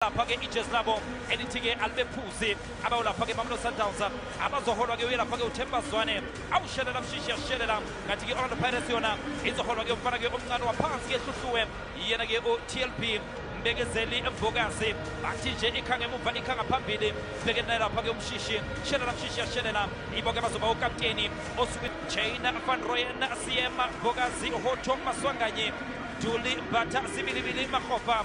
lapha ke ijezi labo elithi ke alibephuzi abawulapha ke mamelodi sundowns abazoholwa ke uyelapha ke uthemba zwane awushelela mshishi yashelela ngathi ke orlando pirates yona izoholwa ke umfana ke omncane waphansi ke hluhluwe yena ke utlb mbekezeli embokazi bathi nje ikha ngemuva ikha ngaphambili sibeke naye lapha ke umshishi shelela mshishi yashelela ibo ke bazoba ukapteni osuke jana van royen siyema mbokazi hoto maswanganye juli mbatha sibilibili mahofa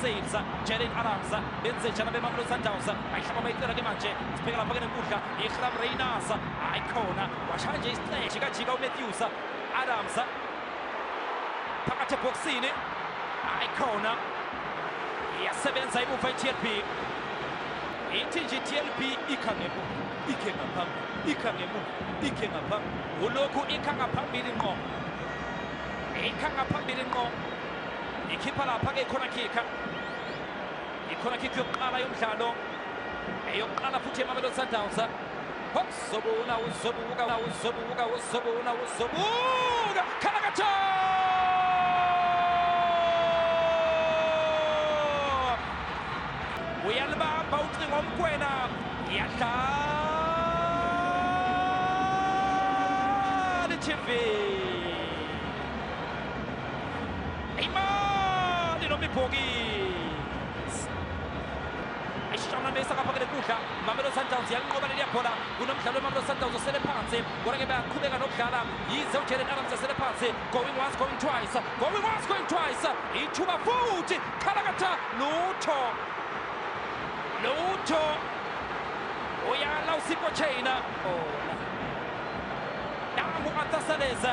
Sails, Jalen Adams, benze njani abemamelodi sundowns ayihlaba bayicela ke manje sibheke lapha ke nenkundla ihram reynas hayi khona washaya nje isiteshi kajika umatthews adams phakathi ebhokisini hayi khona iyasebenza imuva i-tlb ithi nje i-tlb ikha ngemuva ikhe ngaphambili ikha ngemuva ikhe ngaphambili ulokhu ikha ngaphambili ngqo ikha ngaphambili ngqo ikhipha lapha ke ikhona khikha ikhona khikha yokuqala yomdlalo eyokuqala futhi emamelodi sundowns uzobuna uzobuka uzobuka uzobuna uzobuka khalakatho uyalibamba ucingo mkwena iyadlala itv imali noma ibhokisi ishanamisa kaphakele kudla mamelodi sundowns yalinqoba leliya bhola kunomdlalo wemamelodi sundowns osele phansi kodwa ke bayaqhubeka nokudlala yize ujelen adams esele phansi going once going twice going once going twice ithuba futhi khalakatha lutho lutho uyala usipho chaina nangu atasaleza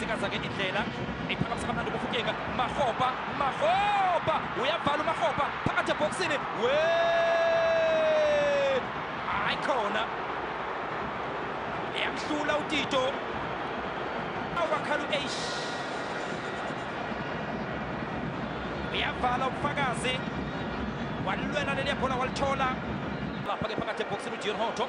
sikazake indlela iphakamisa kamnandi ukufutyeka mahopa mahopa uyavala umahopa phakathi ebhokisini we hayi khona yamhlula utito awakhala u-eish uyavala ubufakazi walilwela leliya bhola walithola lapha-ke phakathi ebhokisini ujion hoto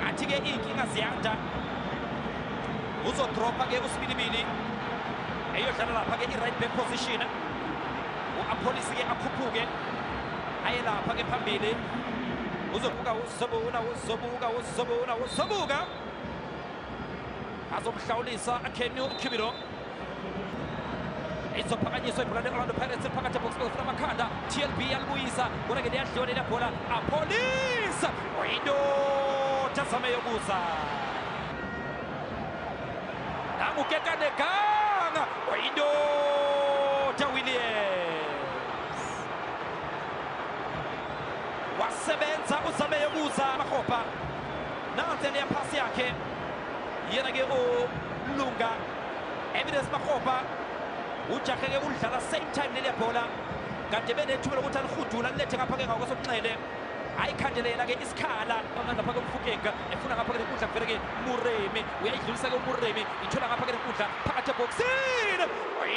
ngathi-ke iy'nkinga ziyanda uzodropha-ke usibilibili eyodlala lapha-ke i-right back position u-apholisi-ke akhuphuke aye lapha-ke phambili uzobuka uzobuka uzobuka uzobuka uzobuka azomhlawulisa akheni ukhibilo izophakanyiswa ibhola le-orlando pirates phakathi ebokisini ofuna amakhanda tlb yalibuyisa kodwa ke liyadliwa leli bhola apolisa uyindoda azame yokuza nangukekaneganga uyindoda williams wasebenza uzame yokuza mahopa nansi eliya phasi yakhe yena ke ulunga evidence makgopa ujahe ke ulidlala same time leliya bhola kade benethuba lokuthi alihudula lilethe ngapha ke ngakwesokunxele ayikhandele yena ke isikhala ngapha ke umfukeka efuna ngapha ke lenkundla kuvele ke muremi uyayidlulisa ke umuremi ithola ngapha ke lenkundla phakathi ebhokisini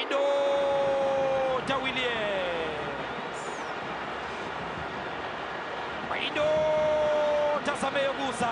indoda williams indoda zameyokuza